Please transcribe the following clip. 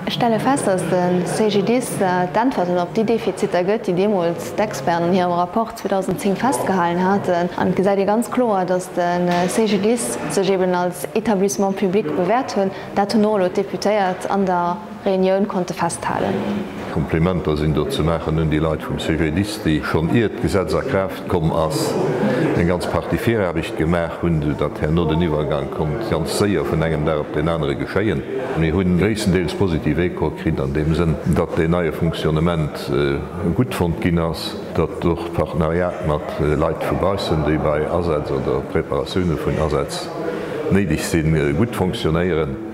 Ech stelle fest, dass de CGDIS d'Äntwerten op déi Defiziter gëtt, déi deemools d'Experten an hirem Rapport 2010 festgehalen haten. An et gesäit ee ganz kloer, dass de CGDIS sech eeben als Établissement public bewäert hunn. Dat hunn och elo d'Deputéiert an der Reunioun konnte festhalen. Komplimenter sinn do ze maachen un déi Leit vum CGDIS, déi schonn iert d'Gesetz a Kraaft Komm ass eng ganz Partie Viraarbecht gemaach hunn, sou datt herno den Iwwergang konnt ganz séier vun engem Dag op deen anere geschéien. Mir hunn gréisstendeels positiv Echo kritt an deem Sënn, datt deen neie Fonctionnement gutt fonnt ginn ass, datt och d'Partenariat mat Leit vu baussen, déi bei Asätz oder Preparatioune vun Asätz néideg sinn, gutt fonctionéieren.